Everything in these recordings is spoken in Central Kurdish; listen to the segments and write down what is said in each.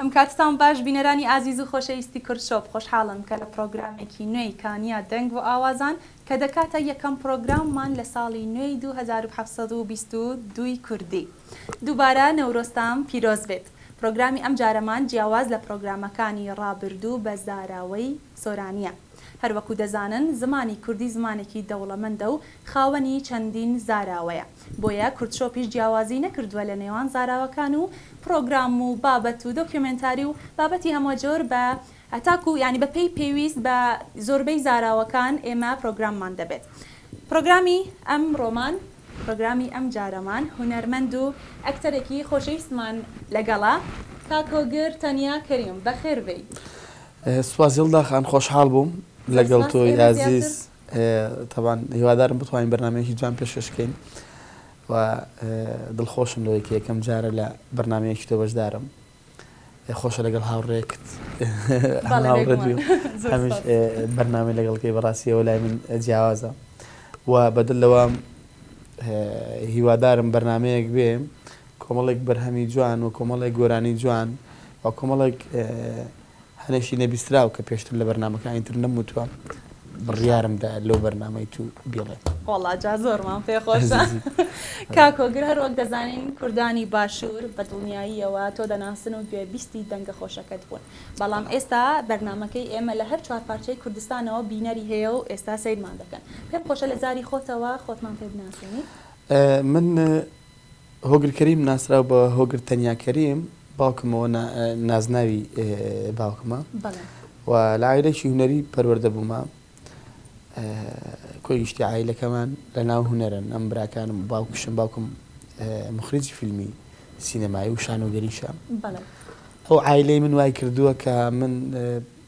ئمکاتتان باش بینەرانی ئازیز و خۆشەویستی کورد شۆپ خۆشحاڵم کە لە پڕۆگرامێکی نوێی کانیا دەنگ و ئاوازان کە دەکاتە یەکەم پڕۆگراممان لە ساڵی نوێی دوو هەزار و حەفت سەد و بیست و دوو ی کوردی دووبارە نەورۆزتان پیرۆز بێت پڕۆگرامی ئەم جارەمان جیاواز لە پڕۆگرامەکانی ڕابردوو بە زاراوەی سۆرانییە هەروەکو دەزانن زمانی کوردی زمانێکی دەوڵەمەندە و خاوەنی چەندین زاراوەیە بۆیە کوردشۆپیش جیاوازی نەکردووە لە نێوان زاراوەکان و پڕۆگرام و بابەت و دۆکیۆمێنتاری و بابەتی هەمەجۆر بە تاکوو یانی بە پێی پێویست بە زۆربەی زاراوەکان ئێمە پڕۆگراممان دەبێت پڕۆگرامی ئەمڕۆمان پڕۆگرامی ئەمجارەمان هونەرمەند و ئەکتەرێکی خۆشەویستمان لەگەڵە کاک هۆگر تەنیا کەریم بەخێر بێی. سوپاس یەڵدا خان خۆشحاڵ بووم لەگەڵ تۆی ئازیز. تەبعەن هیوادارم بتوانین بەرنامەیەکی جوان پێشکەش کەین و دڵخۆشم لەوەی کە یەکەم جارە لە بەرنمەیەکی تۆ بەشدارم خۆشە لەگەڵ هاوڕێکت هەمیش بەرنامی لەگەڵکەی بەڕاستیەوە لای من جیاوازە و بەدل لەوە هیوادارم بەرنمەیەک بێ کۆمەڵێک بەرهەمی جوان و کۆمەڵێک گۆرانی جوان و کۆمەڵێک هەنێکی نەبیستراو کە پێشتر لە بەرنامەکانی تر نەموتوە بڕیارم دا لەو بەرنامەی تو بیڵێم. وەڵا جا زۆرمان پێ خۆشە کاک هۆگر هەر وەک دەزانین کوردانی باشور بە دڵنیاییەوە تۆ دەناسن و گوێ بیستی دەنگە خۆشەکەت بوون بەڵام ئێستا بەرنامەکەی ئێمە لە هەر چوار پارچەی کوردستانەوە بینەری هەیە و ئێستا سەیرمان دەکەن پێم خۆشە لە زاری خۆتەوە خۆتمان پێ بناسێنیت. من هۆگر کەریم ناسراو بە هۆگر تەنیا کەریم باوکمەوە نا نازناوی باوکمە بەڵێ و لە عائیلەکی هونەری پەروەردە بوومە کۆی گشتی عائیلەکەمان لە ناو هونەرن ئەم براکانم و باوکیشم باوکم مخرجی فیلمی سینەمایی و شانۆگەریشە بەڵێ ئەو عائیلەی من وای کردووە کە من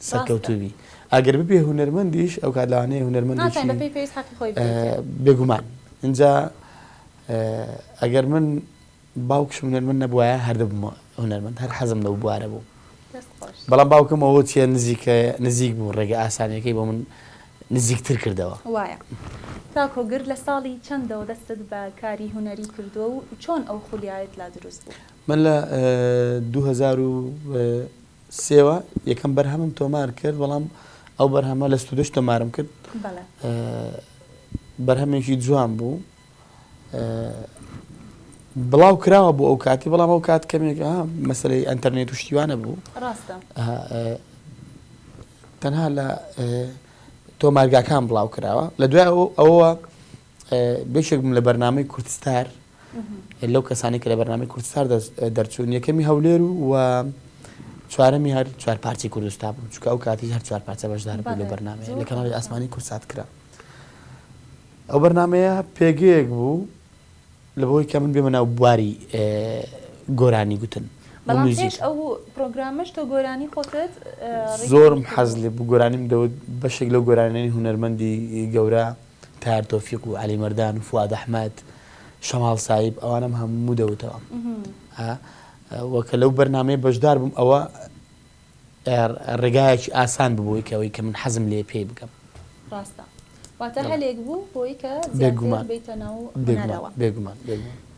سەرکەوتوو بی ئەگەر ببی هونەرمەندیش ئەو کات لەوانەیە هونەرمەندی بێگومان ئینجا ئەگەر من باوکش هونەرمەند نەبووایە هەردەبمە هونەرمەند هەر حەزم لەو بوارە بوو بەڵام باوکم ئەوە چیە نزیکە نزیک بوو ڕێگە ئاسانەکەی بۆ من نزیکتر کردەوە وایە تاکۆ گر لە ساڵی چەندەوە دەستت بە کاری هونەری کردووە و چۆن ئەو خولیایەت لا دروست بوو من لە دوو هەزار و سێوە یەکەم بەرهەمم تۆمار کرد بەڵام ئەو بەرهەمە لە ستودش تۆمارم کرد بەرهەمێکی جوان بوو بڵاو کراوە بۆ ئەو کاتی بەڵام ئەو کات کەمێک مەسلەی ئەتەرنێت و شتیوانە بوو تەنها لە تۆمارگاکان بڵاو کراوە لە دوای ئەوە بەشێک بووم لە بەرنامەی کوردستار لەو کەسانی کە لە بەرنامەی کوردستار دەرچوون یەکەمی هەولێر و و چوارەمی هەر چوار پارچی کوردستان بوو چکە ئەو کاتی هەر چوار پارچە بەشدار بوو لە بەرنامە لە کەناڵی ئاسمانی کورسات کرا ئەو بەرنمەیە پێگەیەک بوو لە بۆی کە من بێمە ناو بواری گۆرانی گوتن بەڵامش ئەو پرۆگرامش تۆ گۆرانی خۆتت زۆرم حەز لێ بگۆرانیم دەوت بەشێک لەو گۆرانێنی هوەرمەندی گەورە تەیار تۆفیق و عەلی مەردان و فواد ئەحمەد شەماڵ سایب ئەوانەم هەموو دەوتەوە وە کە لەو بەرنمەیە بەشدار بووم ئەوە ڕێگایەکی ئاسان ببووی کەەوەی کە من حەزم لێ پێی بکەم ڕاستە واتە هەلێک بوو بۆی کە بێگومان بێتە ناو بێگومان بێگومان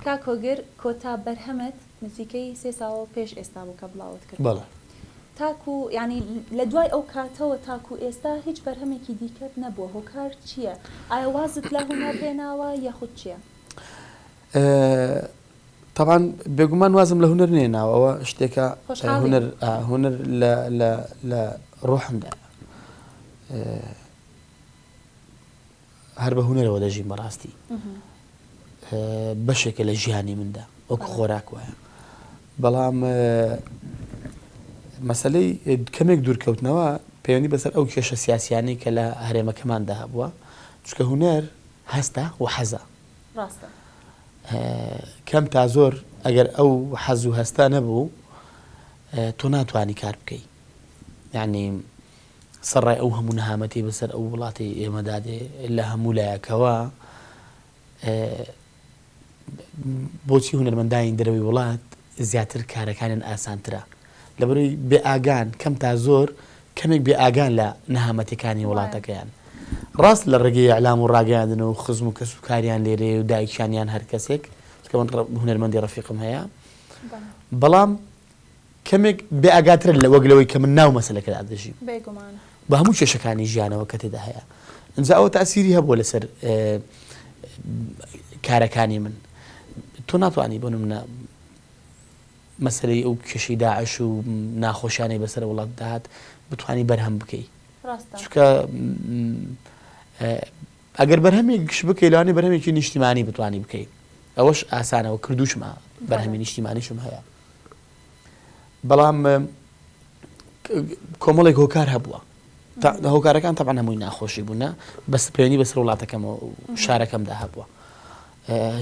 کاکۆگر کۆتا بەرهەمت نزیکەی سێ ساڵ پێش ئێستا بوو کە بڵاوت کرد. بەڵێ. تاکو یانی لە دوای ئەو کاتەوە تاکو ئێستا هیچ بەرهەمێکی دیکەت نەبووە هۆکار چییە؟ ئایا وازت لە هونەر هێناوە یاخود چییە؟ تەبعەن بێگومان وازم لە هونەر نەهێناوە ئەوە شتێکە هونەر هونەر لە لە لە ڕۆحمدایە. هەر بە هونەرەوە دەژیم بەڕاستی بەشێکە لە ژیانی مندا وەکو خۆراک وایە بەڵام مەسلەی کەمێک دوورکەوتنەوە پەیوەندی بەسەر ئەو کێشە سیاسیانی کە لە هەرێمەکەماندا هەبووە چکە هونەر هەستە و حەزە کەم تا زۆر ئەگەر ئەو حەز و هەستا نەبوو تۆ ناتوانانی کار بکەی یعنی سەڕای ئەو هەموو نەهامەتی بەسەر ئەو وڵاتی ئێمەدا دێ لە هەموو لایەکەوە بۆچی هونەرمەندانی دەرەوەی وڵات زیاتر کارەکانیان ئاسانترە لەبەروی بێ ئاگان کەم تا زۆر کەمێک بێ ئاگان لە نەهامەتەکانی وڵاتەکەیان ڕاست لە ڕێگەی ئەعلام و ڕاگەیاندن و خزم و کەس و کاریان لێرەیە و دایکیانیان هەر کەسێک کە من هونەرمەندی ڕفیقم هەیە بەڵام کەمێک بێ ئاگاترن لە وەک لەوەی کە من ناو مەسەلەکەدا دەژیم. بێگومان. بە هەموو کێشەکانی ژیانەوە کە تێدا هەیە. ئینجا ئەوە تاسیری هەبووە لەسەر کارەکانی من. تۆ ناتوانی بۆ نمونە مەسەلەی ئەو کێشەی داعش و ناخۆشیانەی بەسەر وڵات داهات بتانی بەرهەم بکەی. ڕاستە. چونکە ئەگەر بەرهەمێک گشت بکەی لەوانەیە بەرهەمێکی نیشتیمانی بتوانی بکەی ئەوەش ئاسانەوە کردوشمە بەرهەمی نیشتیمانیشم هەیە بەڵام کۆمەڵێک هۆکار هەبووە هۆکارەکان تەبان هەمووی ناخۆشی بوونە بەس پەیوەنی بەسەر وڵاتەکەم و شارەکەمدا هەبووە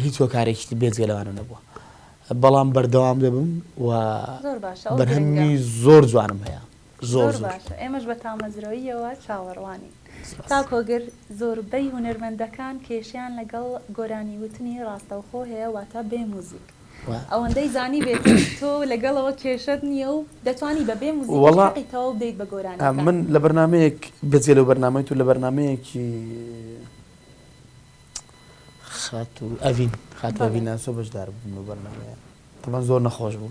هیچ هۆکارێکی بێزگە لەوانە نەبووە بەڵام بەردەوام دەبم و بەرهەمی زۆر جوانم هەیە زۆر زۆر باشە ئێمەش بە تامەزرۆییەوە چاوەڕوانین. سپاس. کاک هۆگر زۆربەی هونەرمەندەکان کێشەیان لەگەڵ گۆرانی وتنی ڕاستەوخۆ هەیە واتە بێ موزیک وە. ئەوەندەی زانیبێتم تۆ لەگەڵەوە کێشەت نیە و دەتوانی بە بێ موزیکیش وەڵا حەقی تەواو بدەیت بە گۆرانیەکان. من لە بەرنامەیەک بەجگە لەو بەرنامەی تۆ لە بەرنامەیەکی خاتوو ئەڤین خاتوو بەڵێ. ئەڤین ناسۆ بەشدار بووم لەو بەرنامەیە. ئەمە زۆر نەخۆش بوو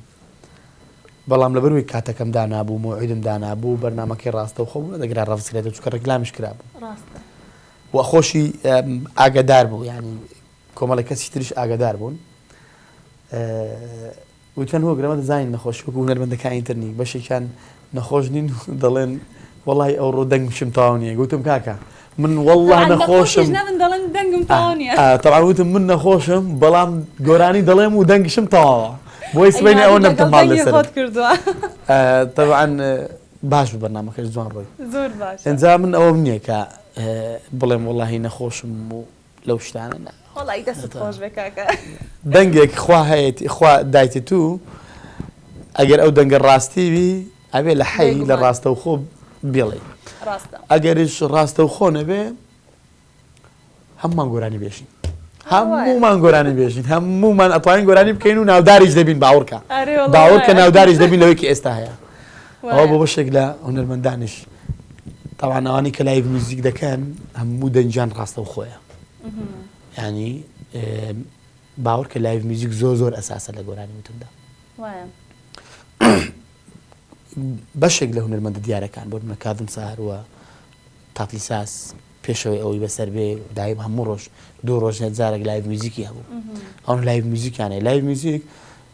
بەڵام لەبەروەی کاتەکەم دانابوو مۆعیدم دانابوو بەرنمەکەی ڕاستەوخۆ بوو دەگرا ڕفسکرێت چکە ڕێکلامیش کرابوو و خۆشی ئاگدار بوو ینی کۆمەڵی کەسی تریش ئاگدار بوون وتەن هۆگرەمە دەزانین نەخۆشی وەکو هونەرمەندەکانی ترنی بەشێکیان نەخۆش نین و دەڵێن وەڵای ئەوڕۆ دەنگ شم تەواو نیە گوتم کاکە من وەڵا نەخۆشم تەواو وتم من نەخۆشم بەڵام گۆرانی دەڵێم و دەنگ شم تەواوە بۆی سبەینێ ئەوە نەبتم ماڵ لەسەر کردووە تەوان باش بەرنامەکەش جوان ڕۆی زۆر باش ئەنجا من ئەوەم نییە کە بڵێم وەڵی نەخۆشم و لەو شتانە نا. وەڵایی دەستت خۆش بێ کاکە. دەنگێک خوا هەیەتی خوا دایتی تو ئەگەر ئەو دەنگە ڕاستی بی ئەبێ لە حەی لە ڕاستەوخۆ بیڵێی ڕاستە ئەگەریش ڕاستەوخۆ نەبێ هەمووان گۆرانی بێژین هەموومان گۆرانی بێژین هەموومان ئەتوانین گۆرانی بکەین و ناوداریش دەبین باوڕکە باوڕکە ناوداریش دەبین لەوەیکی ئێستا هەیە ئەوە بۆ بەشێک لە هونەرمەندانیش تەبعەن ئەوانەی کە لایڤ میوزیک دەکەن هەموو دەنگیان ڕاستەوخۆیە ینی باوەڕ کە لایڤ میوزیک زۆر زۆر ئەساسە لە گۆرانی وتندا بەشێک لە هونەرمەندە دیارەکان بۆ منە کادم ساروە تاتلی ساس پێشەوەی ئەوەی بەسەر بێ دایم هەموو ڕۆژ دوو ڕۆژ هەزارێک لایڤ میوزیکی هەبوو ئەوان لایڤ میوزیکیانەیە لایڤ میوزیک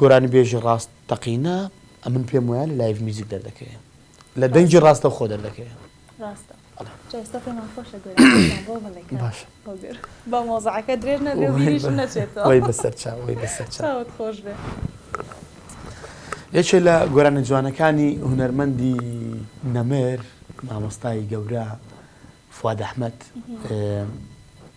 گۆرانیبێژی ڕاست تەقینە ئەمن پێم وایە لە لایڤ میوزیک دەردەکەوێ لە دەنگی ڕاستەوخۆ دەردەکەوێ ڕاستە بەڵێ جا ئێستا پێمان خۆشە گۆرانیەکان بۆ بڵێ کاک باشە هۆگر با مۆزەعەکە درێژ نەبێ و وەی بیریش بە نەچێتەوە وەی بەسەر چا وەی بەسەر چا چاوت خۆش بێ یەکێ لە گۆرانە جوانەکانی هونەرمەندی نەمر مامۆستای گەورە فواد ئەحمەد ئێ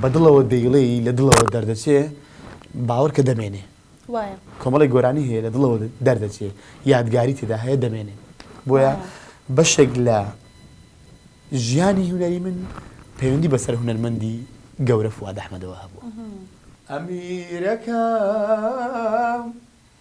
بە دڵەوە دەیڵێی لە دڵەوە دەردەچێ باوەرکە دەمێنێ وایە کۆمەڵێک گۆرانی هەیە لە دڵەوە دەردەچێ یادگاری تێدا هەیە دەمێنێ بۆیە بەشێک لە ژیانی هونەری من پەیوەندی بەسەر هونەرمەندی گەورە فواد ئەحمەدەوە هەبووە ئەمیرەکەم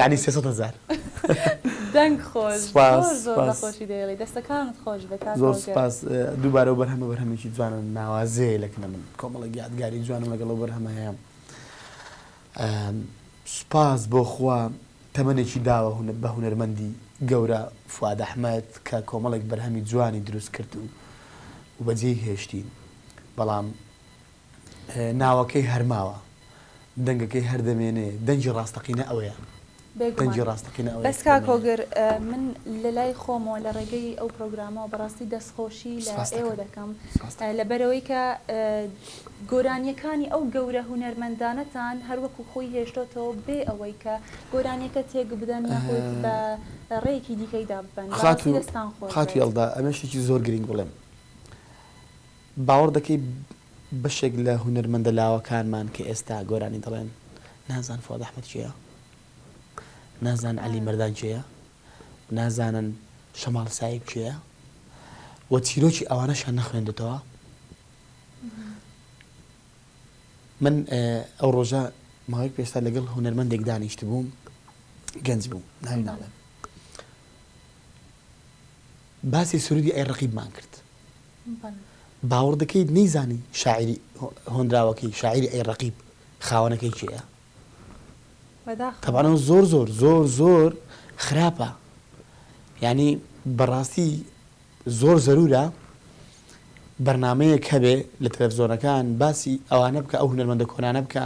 یانی سێ سەد هەزار دەنگ خۆش سوپاس زۆر زۆر بە خۆشی دەیڵێی دەستەکانت خۆش بێت کاکە زۆر سوپاس دووبارە و بەرهەمە بەرهەمێکی جوانە ناوازەیە لە کن من کۆمەڵێک یادگاری جوانم لەگەڵ و بەرهەمە هەیە سوپاس بۆ خوا تەمەنێکی داوە هونەر بە هونەرمەندی گەورە فواد ئەحمەد کە کۆمەڵێک بەرهەمی جوانی دروست کرد و و بەجێی هێشتین بەڵام ناوەکەی هەر ماوە دەنگەکەی هەر دەمێنێ دەنگی ڕاستەقینە ئەوەیە. بێگومان بەس کاک هۆگر من لەلای خۆمەوە لە ڕێگەی ئەو پرۆگرامەوە بەڕاستی دەستخۆشی لە ئێوە دەکەم لەبەرەوەی کە گۆرانیەکانی ئەو گەورە هونەرمەندانەتان هەروەکو خۆی هێشتۆتەوە بێ ئەوەی کە گۆرانیەکە تێک بدەن یاخود بە ڕێیەکی دیکەی داببەن بەڕاستی دەستان خۆش بێت. خاتوو یەڵدا ئەمەشێکی زۆر گرینگ بڵێم باوەڕ دەکەی بەشێک لە هونەرمەندە لاوەکانمان کە ئێستا گۆرانی دەڵێن نازان فواد احمد کێیە؟ نازان علی مردان کێیە؟ نازانن شەماڵ سایب کێیە؟ و چیرۆکی ئەوانەشیان نەخوێندۆتەوە؟ من ئەو ڕۆژە ماوەیەک پێشتر لەگەڵ هونەرمەندێک دانیشتبووم گەنج بوو ناوی ناڵێم باسی سرودی ئەی ڕەقیبمان کرد باوەڕ دەکەیت نەیزانی شاعیری هۆنراوەکەی شاعیری ئەی ڕەقیب خاوەنەکەی کێیە؟ تەبعەن ئەوە زۆر زۆر زۆر زۆر خراپە یانی بەڕاستی زۆر زەرورە بەرنمەیەک هەبێ لە تەلەفزۆنەکان باسی ئەوانە بکە ئەو هونەرمەندە کۆنانە بکە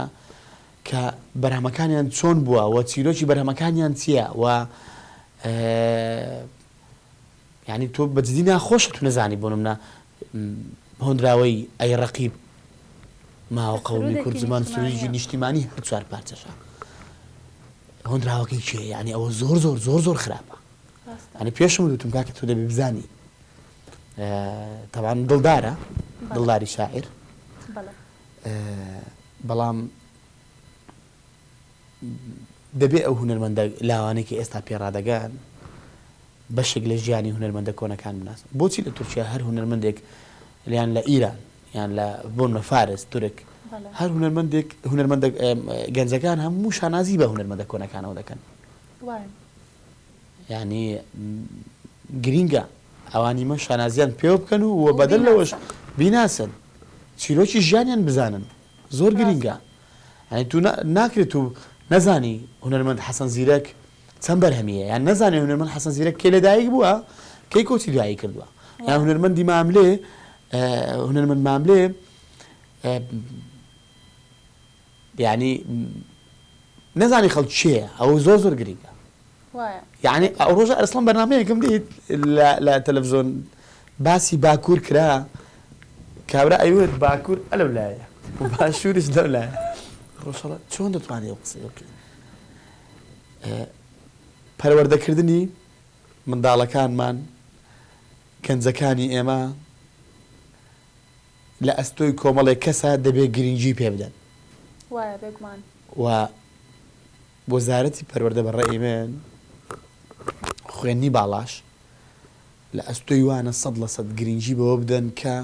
کە بەرهەمەکانیان چۆن بووە و چیرۆکی بەرهەمەکانیان چییە و یانی تۆ بە جدی ناخۆشە تو نەزانی بۆ نمونە هۆنراوەی ئەی ڕەقیب ماوە قەومی کورد زمان سرودێکی نیشتیمانی هەر چوار پارچەشە هۆنراوەکەی کێ یانی ئەوە زۆر زۆر زۆر زۆر خراپە ئەنی پێشم وتم کاکە تۆ دەبی بزانی تەوان دڵدارە دڵداری شاعر بەڵام دەبێ ئەو هونەرمەندە لاوانەی کە ئێستا پێ ڕادەگەن بەشێک لە ژیانی هونەرمەندە کۆنەکان بناسن. بۆچی لە تورکیا هەر هونەرمەندێک یان لە ئیران یان لە بۆ نمە فارس، تورک هەر هونەرمەندێک هونەرمەندە گەنجەکان هەموو شانازی بە هونەرمەندە کۆنەکانەوە دەکەن؟ وایە. یانی گرینگە ئەوانی مە شانازیان پێوە بکەن و وە بەدەر لەوەش بیناسن چیرۆکی ژیانیان بزانن. زۆر گرینگە ڕاستە. یانی تو ناکرێ تو نەزانی هونەرمەند حەسەن زیرەک چەند بەرهەمی هەیە یان نەزانێ هونەرمەند حەسەن زیرەک کەی لەدایک بووە کەی کۆچی دوایی کردووە یان وا. هونەرمەندی ماملێ هونەرمەند ماملێ یانی نەزانی خەڵک کێیە ئەوە زۆر زۆر گرینگە. وایە. یەعنی ئەو ڕۆژە ئەرسڵان بەرنامەیەکم دیت لە لە تەلەفزۆن باسی باکوور کرا کابرا ئەیوت باکوور ئەلەو لایە و باشووریش لەو لایە ڕۆژهەڵا چۆن دەتوانی ئەو قسەیە بکەی پەروەردەکردنی منداڵەکانمان گەنجەکانی ئێمە لە ئەستۆی کۆمەڵێک کەسە دەبێ گرینگی پێ بدەن. وایە بێگومان. و. وەزارەتی پەروەردە بە ڕەئی من خوێندنی باڵاش لە ئەستۆی وانە سەد لە سەد گرینگی بەوە بدەن کە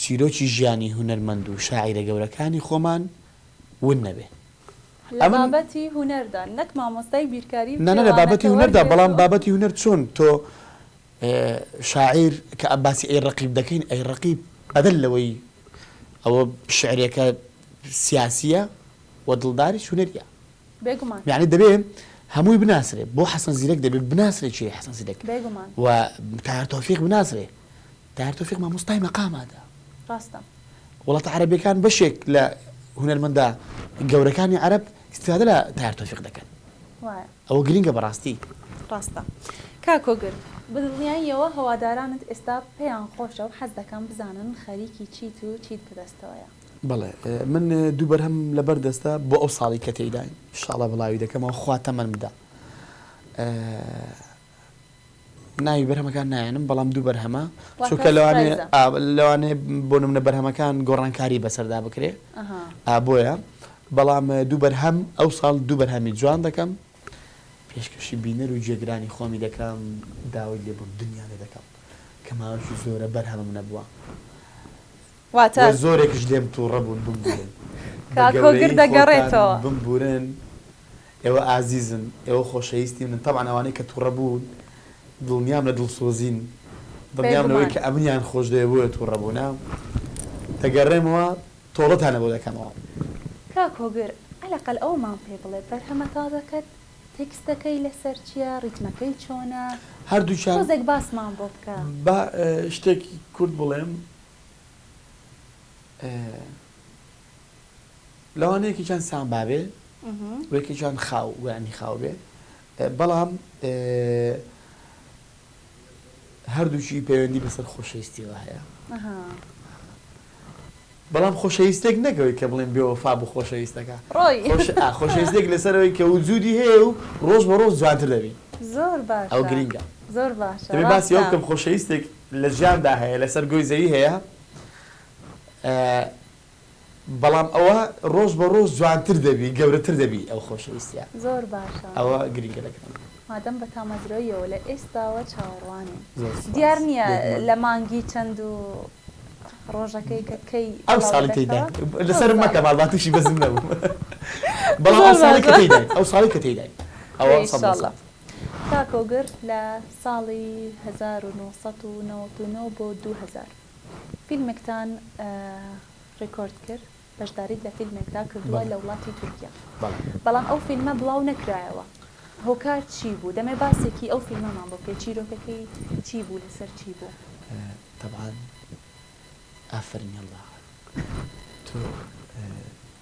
چیرۆکی ژیانی هونەرمەند و شاعیرە گەورەکانی خۆمان ون نەبێ لە ئەمن بابەتی هونەردا نەک مامۆستای بیرکاری و نانە لە کێوانە بابەتی کە هونەردا وەرگێڕ بەڵام و بابەتی هونەر چۆن تۆ ئێ شاعیر کە ئە باسی ئەی ڕەقیب دەکەین ئەی ڕەقیب بەدەل لەوەی ئەوە شعرێکە سیاسیە و دڵداریش هونەریە. بێگومان. یانی دەبێ هەمووی بناسرێ بۆ حەسەن زیرەک دەبێ بناسرێ کێیە حەسەن زیرەک بێگومان. و تایەر تۆفیق بناسرێ تایەر تۆفیق مامۆستای مەقامادە. ڕاستە. وڵاتە عەرەبیەکان بەشێک لە هونەرمەندە گەورەکانی عەرەب ئیستفادە لە تایەر تۆفیق دەکەن. وایە. ئەوە گرینگە بەڕاستی. ڕاستە کاک کۆگر بەدڵنیاییەوە هەوادارانت ئێستا پێیان خۆشە و حەز دەکەم بزانن خەریکی چیت و چیت بەدەستەوەیە. بەڵێ من دوو بەرهەم لە بەر دەستە بۆ ئەو ساڵی کە تێیداین ان شاء اللە بڵاوی دەکەمەوە خوا تەمەن بدا ناوی بەرهەمەکان نایەنم بەڵام دوو بەرهەمە چونکە لەوانێ لەوانێ بۆ نمونە بەرهەمەکان گۆڕانکاری بەسەردا بکرێ ئابۆیە بەڵام دوو بەرهەم ئەو ساڵ دوو بەرهەمی جوان دەکەم پێشکەشی بینەر و جێگرانی خۆمی دەکەم داوای لێبوون دنیا لێ دەکەم کە ماوەشی زۆرە بەرهەمم نەبووە واتە. وە زۆرێکش لێم توڕە بوون بمبورن بە گەورەیی خۆتان بمبورن ئێوە ئازیزن ئێوە خۆشەیستی منن تەبعەن ئەوانەی کە توڕە بوون دڵنیام لە دڵسۆزین دڵنیام لەوەی کە ئەمنیان خۆشدەوێ بۆیە توڕە بوونە دەگەڕێمەوە تۆڵەتانە بۆ دەکەمەوە. کاک هۆگر عەلەقەل ئەوەمان پێ بڵێ بەرهەمە تازەکەت تێکستەکەی لەسەر چیە ڕیتمەکەی چۆنە هەردووکیان تۆزێک باسمان بۆ بکە. با شتێکی کورت بڵێم لەوانە یەکێکیان سامبا بێ و یەکێکیان خاو ویانی خاو بێ بەڵام هەردووچی پەیوەندی بەسەر خۆشەویستیەوە هەیە بەڵام خۆشەویستێک نەکەوەی کە بڵێن بێەوە فا بۆ خۆشەویستەکە خۆشەویستێک لەسەرەوەی کە وجودی هەیە و ڕۆژ بە ڕۆژ جوانتر دەبی زۆر باش ئەو گرنگە زۆر باش باسی ئەو کەم خۆشەویستێک لە ژیاندا هەیە لەسەر گۆی زەوی هەیە بەڵام ئەوە ڕۆژ بە ڕۆژ جوانتر دەبی گەورەتر دەبی ئەو خۆشەویستیە زۆر باشە ئەوە گرینگە لە کەمە. مادەم بە تامەزرۆییەوە لە ئێستاوە چاوەڕوانین دیار نییە لە مانگی چەند و ڕۆژەکەی کە کەی ئەو ساڵی کەی دایت لەسەرم مەکە ماڵباتیشی بەزم نەبوو بەڵام ئەو ساڵی کە تێی دایت ئەو ساڵی کە تێی دایت ئەوە سەد لە سەد. کاک ئۆگر لە ساڵی هەزار و نۆ سەد و نەوەد و نۆ بۆ دوو هەزار فیلمێکتان ڕیکۆرد کرد، بەشداریت لە فیلمێکدا کردووە لە وڵاتی تورکیا، بەڵام ئەو فیلمە بڵاو نەکرایەوە، هۆکار چی بوو؟ دەمەوێت باسێکی ئەو فیلمەمان بۆ بکەیت، چیرۆکەکەی چی بوو، لەسەر چی بوو؟ تەبعەن ئافەرین یەڵڵا تۆ.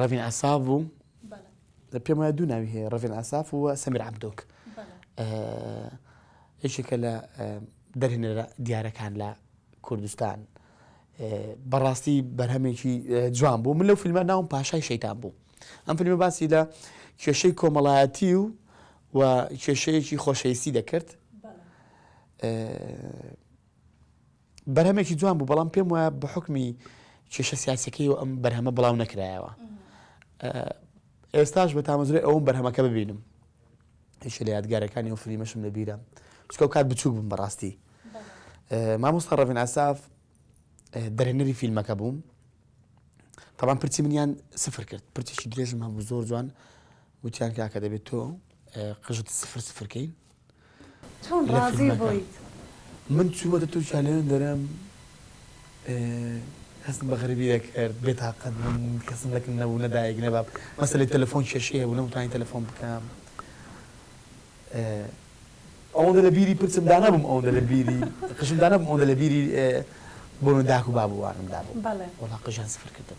ڕەڤین ئەساف بوو پێم وایە دوو ناوی هەیە ڕەڤین ئەساف و سەمیر عبدۆک یەکێکە لە دەرهێنەرە دیارەکان لە کوردستان بەڕاستی بەرهەمێکی جوان بوو من لەو فیلمە ناوم پاشای شەیتان بوو ئەم فیلمە باسی لە کێشەی کۆمەڵایەتی و و کێشەیەکی خۆشەویستی دەکرد بەرهەمێکی جوان بوو بەڵام پێم وایە بە حکمی کێشە سیاسەکەی و ئەم بەرهەمە بڵاو نەکرایەوە ئێستاش بە تامەزرۆی ئەوم بەرهەمەکە ببینم هیچ لە یادگارەکانی و فلیمەشم لەبیرە چکە کات بچوک بم بەڕاستی مامۆستا ڕەڤین ئاساف دەرێنەری فیلمەکە بووم تاوان پرچی منیان سفر کرد پرچێکی درێژم هەبوو زۆر جوان وتیان کاکە دەبێت تۆ قژت سفر سفرکەین چۆن ڕازی بوویت؟ من چوومەتە تورکیا لەوێ دەرم هەستم بە غەریبی دەکرد بێتاقەت بووم کەسم لەکن نەبوو نە دایک نە باب مەسەلەی تەلەفۆن کێشەی هەبوو نەمتوانی تەلەفۆن بکەم ئەوەندە لە بیری پرچم دا نەبووم ئەوەندە لە بیری قژم دا نەبووم ئەوەندە لە بیری بۆنە داک و باب و وانم دابوو وەڵا قژیان سفر کردم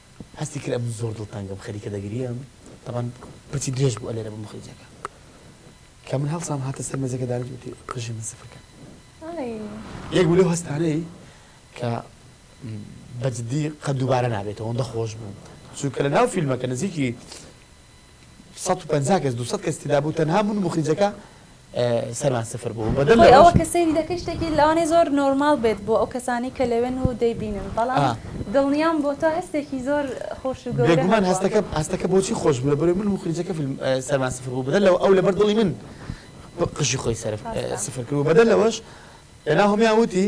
هەستی کرد ئەمن زۆر دڵتەنگم خەریکە دەگریێم تەبان پرچی درێژ بوو ئەلێرە بە مخرجەکە کە من هەڵسام هاتە سەر مێزەکە دانیشت وتی قژی من سفەکە یەک بوو لەو هەستانەی کە بەجددی قەت دووبارە نابێتەوە ئەوەندە خۆش بوو چونکە لە ناو فیلمەکە نزیکی سەد و پەنجا کەس دوو سەد کەس تێدا بوو تەنها من و موخریجەکە سەرمان سفر بوو بەدەر خۆی لەوەش ئەوە کە سەیری دەکەی شتێکی لەوانەیە زۆر نۆرماڵ بێت بۆ ئەو کەسانەی کە لەوێن و دەیبینن بەڵام ئا. دڵنیام بۆ تۆ هەستێکی زۆر خۆش و گەورە بێگومان هەبووە هەستەکە هەستەکە بۆچی خۆش بوو لەبەرەوەی من و موخریجەکە فیلم سەرمان سفر بوو بەدەر لەوە ئەو لەبەر دڵی من قژی خۆی سەرف ڕاستە. سفر کرد و بەدەر لەوەش ناهۆمیان وتی،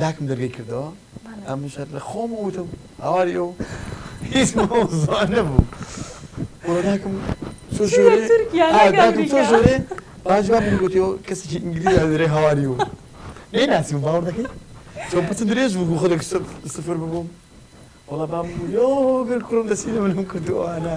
داکم دەرگەی کردەوە ئەمن شەر لە خۆم وتم هاواری ئەو هیچ مەوزوعە نەبوو وە داکم چۆ ژۆرێ چۆ ژۆرێ باش با من گوتیەوە کەسێکی ئینگلیز دەرێ هاواری و نەی ناسیم باوەڕ دەکەی چۆ پچ درێژ بوو خۆ دەک سفر ببووم وەڵا بام یۆ گەر کوڕم دەسی لە منم کردووانە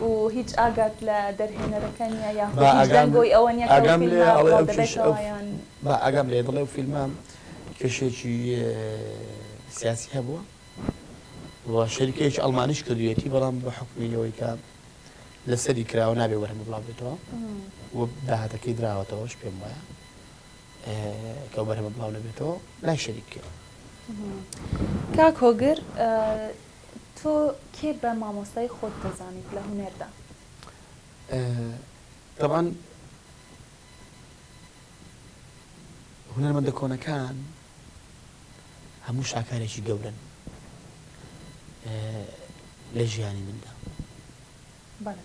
و هیچ ئاگات لە دەرهێنەرەکە نیە یاخود هیچ دەنگۆی ئەوە نیە کە ئەو فیلمە بڵاو دەبێتەوە یان. با ئاگام لێیە دەڵێ ئەو فیلمە کێشەیەکی سیاسی هەبووە و شەریکەیەکی ئەڵمانیش کردوویەتی بەڵام بە حکومی ئەوەی کە لەسەری کراوە نابێ وەرەمە بڵاو بێتەوە و داهاتەکەی دراوەتەوەش پێم وایە کە بەرەمە بڵاو نەبێتەوە لای شەریک کرد. کاک هۆگر تۆ کێ بە مامۆستای خۆت دەزانیت لە هونەردا؟ تەبعەن هونەرمەندە کۆنەکان هەموو شاکارێکی گەورەن لە ژیانی مندا. بەڵێ.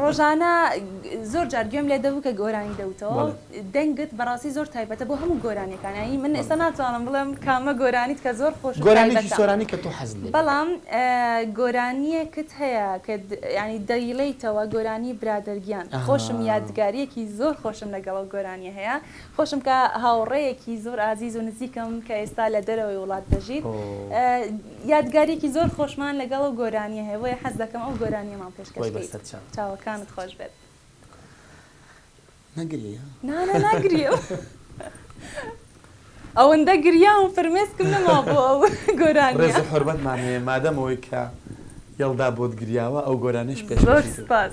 ڕۆژانە زۆر جار گوێم لێ دەبوو کە گۆرانی دەوتەوە دەنگت بەڕاستی زۆر تایبەتە بۆ هەموو گۆرانیەکانایی من ئێستا ناتوانم بڵێم کامە گۆرانیت کە زۆر خۆش گۆرانی سۆرانی کە تۆ حەز بەڵام گۆرانیەکت هەیە کە ینی دەیڵیتەوە گۆرانی برادەرگیان خۆشم یادگاریەکی زۆر خۆشم لەگەڵ گۆرانیە هەیە خۆشم کە هاوڕێیەکی زۆر ئازیز و نزیکم کە ئێستا لە دەرەوەی وڵات دەژیت یادگاریەکی زۆر خۆشمان لەگەڵ ئەو گۆرانیە هەیە بۆیە حەز دەکەم ئەو گۆرانیەمان پێشکەش بکەیت چاوەکانت خۆش بێت ئەوەندە گریاوم فرمێسکم نەما بۆ ئەو گۆرانیە ڕێز و حورمەتمان هەیە مادەم ئەوەی کە یەڵدا بۆت گریاوە ئەو گۆرانیەش پێش زۆر سوپاس.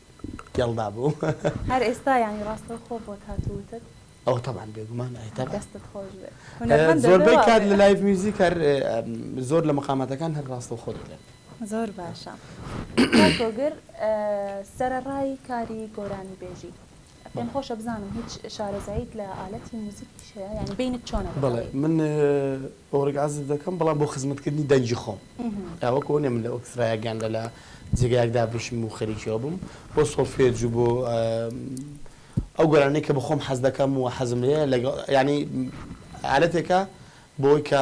گەڵدا بووم. هەر ئێستا یانی ڕاستەوخۆ بۆت هات و وتت؟ ئەوە تەبعەن بێگومان ئەی تەبعەن. دەستت خۆش بێت. هونەرمەندە بێ وا بێ. زۆربەی کات لە لایڤ میوزیک هەر زۆر لە مقاماتەکان هەر ڕاستەوخۆ دەلێم. زۆر باشە. کاک گۆگر سەرەڕای کاری گۆرانیبێژی. پێم خۆشە بزانم هیچ شارەزاییت لە ئالەتی موزیکیش هەیە یانی بینت چۆنە بەڵێ لەگەڵی؟ من ئۆرگ عەزف دەکەم بەڵام بۆ خزمەتکردنی دەنگی خۆم ئا وەک ئەوە نیە من لە ئۆکسترایەک یان لە لە جێگایەک دابنیشم و خەریکی ئەوە بم بۆ سۆڵفێج و بۆ ئەو گۆرانیە کە بە خۆم حەز دەکەم و حەزم لێیە لەگەڵ یانی ئالەتێکە بۆ ئەوەی کە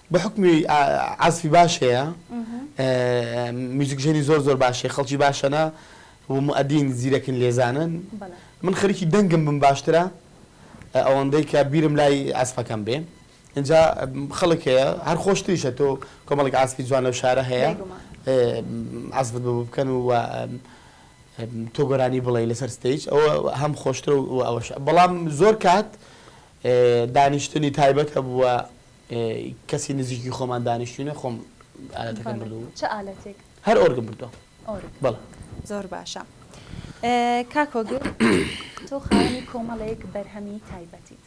بەحوکمی عەزفی باش هەیە میوزیکژەنی زۆر زۆر باش هەیە خەڵکی باشەنە و موئەدین زیرەکن لێزانن من خەریکی دەنگم بم باشترە ئەوەندەی کە بیرم لای عەزفەکەم بێ ئینجا خەڵک هەیە هەر خۆشتریشە تۆ کۆمەڵێک عەزفی جوان لەو شارە هەیە عەزفت بۆ بکەن و تۆ گۆرانی بڵێ لەسەر ستەیج ئەوە هەم خۆشترە و ئەوەش بەڵام زۆر کات دانیشتنی تایبەت هەبووە کەسی نزیکی خۆمان دانیشتوینە خۆم ئالەتەکەم بردووە. چ ئالەتێک؟ هەر ئۆرگم بردووە. ئۆرگ؟ بەڵێ. زۆر باشە کاک هۆگر تۆ خاوەنی کۆمەڵێک بەرهەمی تایبەتیت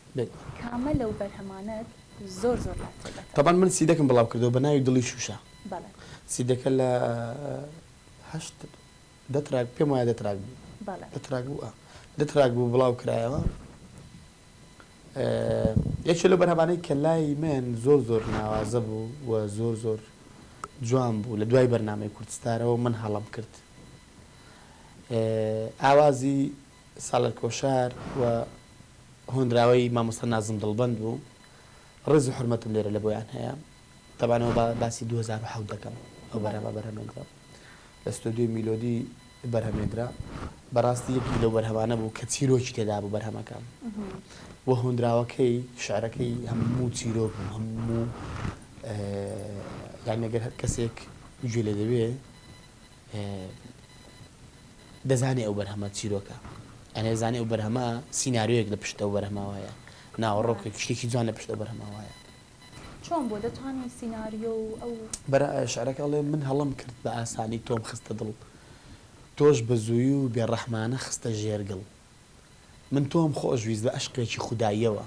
کامە لەو بەرهەمانەت زۆر زۆر لات تایبەتە؟ تەبان من سیدەکم بڵاو کردووە بە ناوی دڵی شوشە بەڵێ. سیدەکە لە هەشت دە تراک پێم وایە دە تراک بوو. بەڵێ. دە تراک بوو ئا دە تراک بوو بڵاو کرایەوە. یەکێ لەو بەرهەمانەی کە لای من زۆر زۆر ناوازە بوو و زۆر زۆر جوان بوو لە دوای بەرنامەی کوردستارەوە من هەڵەم کرد ئاوازی سالار کۆشار و هۆنراوەی مامۆستا نازم دڵبەند بوو ڕێز و حورمەتم لێرە لە بۆیان هەیە تەبعەن ئەوە باسی دوو هەزار و حەوت دەکەم ئەو بەرهەمە بەرهەمێنرا. لە ستۆدیۆی میلۆدی بەرهەمێندرا بەراستی یەکێک لەو بەرهەمانە بوو کە چیرۆکی تێدا بوو بەرهەمەکە و هۆنراوەکەی شعرەکەی هەموو چیرۆک بوو هەموو یان نەگەر هەر کەسێک گوێ لێ دەبێ دەزانێ ئەو بەرهەمە چیرۆکە ئەێ زانێ ئەو بەرهەمە سینناریۆیەک لە پشتەوە بەرهماوایە ناوەڕۆکێک شتێکی جوان لە پشتەوە بەرهماوایە چۆن بوو دەتوانی سیناریۆ و ئەو. برا شعرەکە ئەڵێ من هەڵەم کرد بە ئاسانی تۆم خستە دڵ تۆش بە زووی و بێ ڕەحمانە خستە ژێر گڵ من تۆم خۆش ویست بە ئەشقێکی خوداییەوە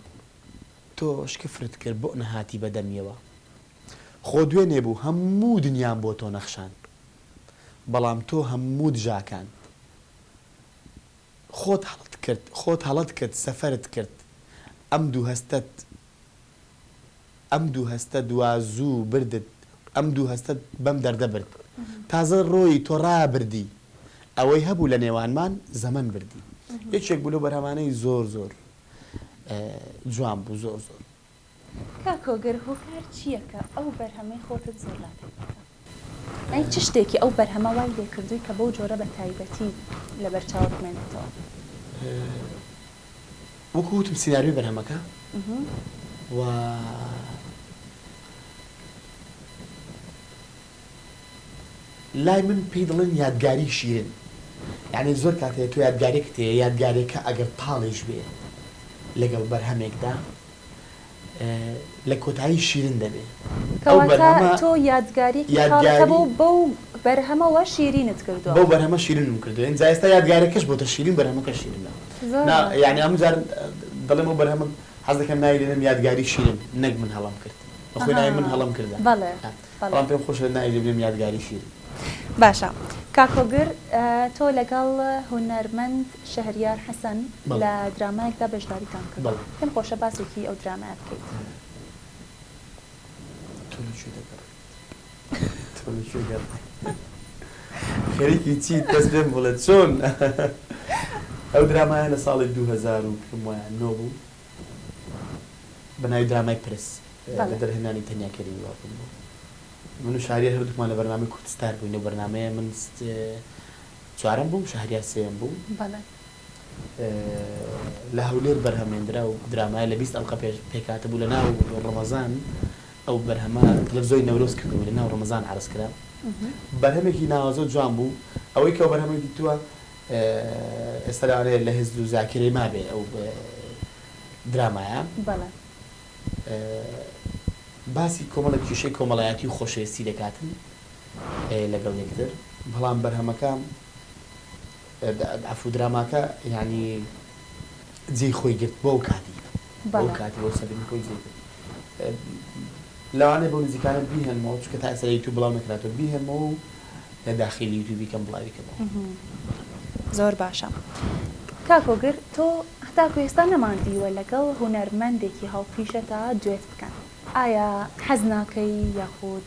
تۆش کفرت کرد بۆ نەهاتی بە دەمیەوە خۆ دوێنێ بوو هەموو دنیام بۆ تۆ نەخشان بەڵام تۆ هەموو دژاکان خۆت هەڵەت کرد خۆت هەڵەت کرد سەفەرت کرد ئەم دوو هەستەت ئەم دوو هەستە دوا زوو بردت ئەم دوو هەستەت بەم دەردە برد تازە ڕۆیی تۆ ڕابردی ئەوەی هەبوو لە نێوانمان زەمەن بردی یەکێک بوو لەو بەرهەمانەی زۆر زۆر جوان بوو زۆر زۆر. کاک هۆگر هۆکار چییە کە ئەو بەرهەمەی خۆتت زۆر لا تایبەتە؟ ئەی چ شتێکی ئەو بەرهەمە وای لێکردووی کە بەو جۆرە بە تایبەتی لەبەر چاوت بمێنێتەوە؟ وەکو وتم سیناریۆی بەرهەمەکە و لای من پێی دەڵێن یادگاری شیرن یانی زۆر کات هەیە تۆ یادگارێکت هەیە یادگارێکە ئەگەر تاڵیش بێ لەگەڵ بەرهەمێکدا لە کۆتایی شیرن دەبێ. کەواتە تۆ یادگاریەکی خاڵت هەبوو بەو بەرهەمەوە شیرینت کردوە. بەو بەرهەمە شیرنم کردوە ئینجا ئێستا یادگاریەکەش بۆتە شیرین بەرهەمەکەش شیرنە نا یانی هەموو جار دەڵێم ئەو بەرهەمە حەز دەکەم ناوی لێنێم یادگاری شیرن نەک من هەڵەم کرد بەخۆی ناوی من هەڵەم کردە. بەڵام پێم خۆشە ناوی لێ بنێم یادگاری شیرین. باشە کاک هۆگر تۆ لەگەڵ هونەرمەند شەهریار حەسەن لە درامایەکدا بەشداریتان کردووە پێم خۆشە باسێکی ئەو درامایە بکەیت. تۆ لە کوێ دەگەڕێیت؟ تۆ لە کوێ گەڕێیت؟ خەریکی چیت بەس پێم بڵێ چۆن؟ ئەو درامایە لە ساڵی دوو هەزار و پێم وایە نۆ بوو، بە ناوی درامای پرس لە دەرهێنانی تەنیا کەریم گەڵاپوور بوو. من و شەهریار هەردووکمان لە بەرنامەی کورد ستار بووین، لەو بەرنامەیە من چوارەم بووم، شەهریار سێیەم بوو. لە هەولێر بەرهەمهێندرا و درامایە لە بیست ئەڵقە پێش پێکهاتبوو. لە ناو ڕەمەزان ئەو بەرهەمە تەلەفزیۆنی نەورۆز کردبووی، لە ناو ڕەمەزان عەرز کرا. بەرهەمێکی ناوازە و جوان بوو. ئەوەی کە ئەو بەرهەمەی دیتووە، ئێستا لەوانەیە لە هزر و زاکیرەی مابێ ئەو درامایە. بەڵێ. باسی کۆمەڵێک کیشەی کۆمەڵایەتی و خۆشەویستی دەکاتن لەگەڵ یەکتر بەڵام بەرهەمەکە عەفوو دراماکە یانی جێی خۆی گرت بۆ ئەو کاتی. بەڵێ. ئەوکاتی ئەو سەبری خۆی جێی گرت. لەوانەیە بەو نزیکانە بیهێنمەوە چونکە تا ئێستا لە یوتوب بڵاو نەکراتوە بیهێنمەوە و لە داخیلی یوتوبی کەم بڵاوی کەمەوە. زۆر باشە کاک هۆگر تۆ هەتاکو ئێستا نەمان دیوە لەگەڵ هونەرمەندێکی هاوپیشەتا دوێت بکەن ئایا حەز ناکەی یاخود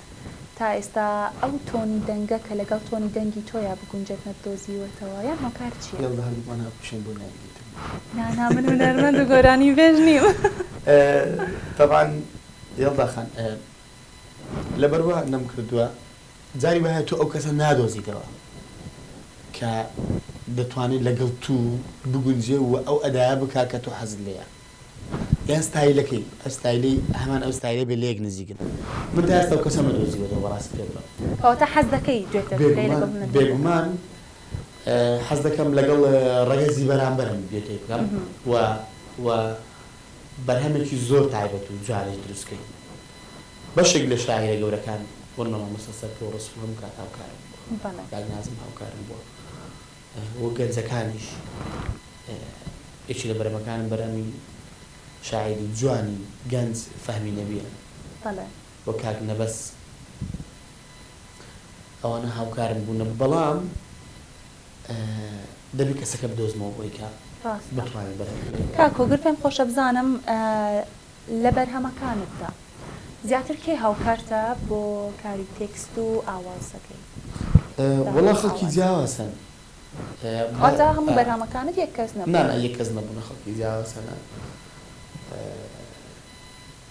تا ئێستا ئەو تۆنی دەنگە کە لەگەڵ تۆنی دەنگی تۆیا بگونجێت نەتدۆزیوەتەوە یان هۆکار چیە؟ یاڵڵە هەردووکمان هاوپیشەین بۆ نایگریت. نا نا من هونەرمەند و گۆرانیبێژ نیم. تەبعەن یەڵدا خان لەبەر وا نەمکردووە جاری وایە تۆ ئەو کەسە نادۆزیتەوە کە دەتوانێ لەگەڵ توو بگونجێ و ئەو ئەدایە بکا کە تۆ حەزت لێیە یان ستایلەکەی ئە ستایلەی هەمان ئەو ستایلە بێ لە یەک نزیکن من تا ئێستا ئەو کەسەم نەدۆزیوەتەوە بەڕاستی پێ بڵێم. کەواتە حەز دەکەی دوێتت بکەی لەگەڵ هونەرمەندێک؟ بێگومان حەز دەکەم لەگەڵ ڕەگەزی بەرامبەرم دوێتێک بکەم و و بەرهەمێکی زۆر تایبەت و جوانیش دروست کەین. بەشێک لە شاعیرە گەورەکان ون بە مامۆستا سەرکەوت ڕەسوڵ هەموو کات هاوکارم بووە. کاک نازم هاوکارم بووە و گەنجەکانیش یەکێ لە بەرەمەکانم بەرەمی شاعیری جوانی گەنج فەهمی نەبیە و کاک نەبەز. ئەوانە هاوکارم بوونە بەڵام دەبی کەسەکە بدۆزمەوە بۆی کە بتوانێت بەرهەم بێنێت. کاک هۆگر پێم خۆشە بزانم لە بەرهەمەکانتدا زیاتر کێ هاوکارتە بۆ کاری تێکست و ئاوازەکەی؟ وەڵا خەڵکی جیاواز هەن. واتە هەموو بەرهەمەکانت یەک کەس نەبوون؟ نا نا یەک کەس نەبوونە خەڵکی جیاواز هەنە.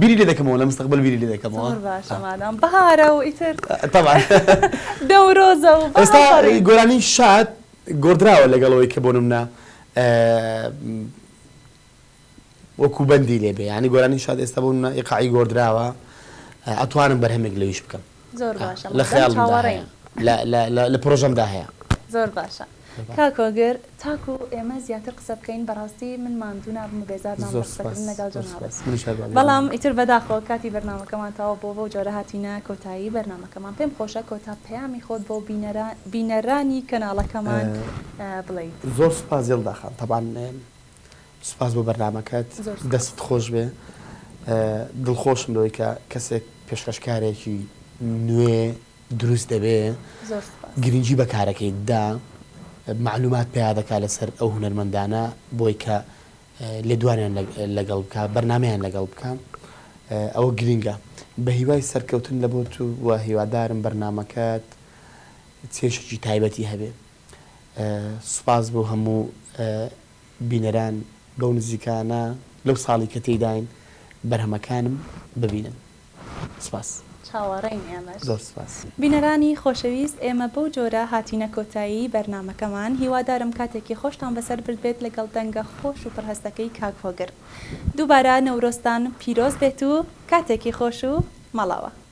بیری لێ دەکەمەوە لە مستەقبەل بیری لێ دەکەمەوە زۆر باشە مادام بەهارە و ئیتر تەبعەن دەورۆزە و بەهار ئێستا فەڕی گۆرانی شاد گۆڕدراوە لەگەڵ ئەوەی کە بۆ نمونە وەکوو بەندی لێ بێ یانی گۆرانی شاد ئێستا بۆ نمونە ئیقاعی گۆڕدراوە ئەتوانم بەرهەمێک لەویش بکەم. زۆر باشە مادەم چاوەڕێین. لە خەیاڵمدا هەیە. لە لە لە لە پرۆژەمدا هەیە. زۆر باشە کاک هۆگر تاکو ئێمە زیاتر قسە بکەین بەڕاستی من ماندوو نابم و بێزار نابم لە زۆر قسە کردن سوپاس لەگەڵ زۆر جەنابت سوپاس منیش هەر بەڵێن بەڵام بەڵێن. ئیتر بەداخەوە کاتی بەرنامەکەمان تەواو بووە بەو جۆرە هاتینە کۆتایی بەرنامەکەمان پێم خۆشە کۆتا پەیامی خۆت بۆ بینەرا بینەرانی کەناڵەکەمان بڵێیت. زۆر سوپاس یەڵدا خان تەبعەن سوپاس بۆ بەرنامەکەت زۆر سوپاس. دەستت خۆش بێ دڵ خۆشم لەوەی کە کەسێک پێشکەشکارێکی نوێ دروست دەبێ زۆر سوپاس. گرنگی بە کارەکەی دا مەعلومات پەیا دەکا لەسەر ئەو هونەرمەندانە بۆی کە لێدوانیان لەگەڵ بکا بەرنامەیان لەگەڵ بکا ئەوە گرنگە بە هیوای سەرکەوتن لە بۆت و هیوادارم بەرنامەکەت چێژێکی تایبەتی هەبێ. سوپاس بۆ هەموو بینەران بەو نزیکانە لەو ساڵی کە تێیداین بەرهەمەکانم ببینن سوپاس. چاوەڕێین ئێمەش. زۆر سوپاس. بینەرانی خۆشەویست ئێمە بەو جۆرە هاتینە کۆتایی بەرنامەکەمان هیوادارم کاتێکی خۆشتان بەسەر بردبێت لەگەڵ دەنگە خۆش و پڕهەستەکەی کاک هۆگر دووبارە نەورۆزتان پیرۆز بێت و کاتێکی خۆش و مەڵاوە.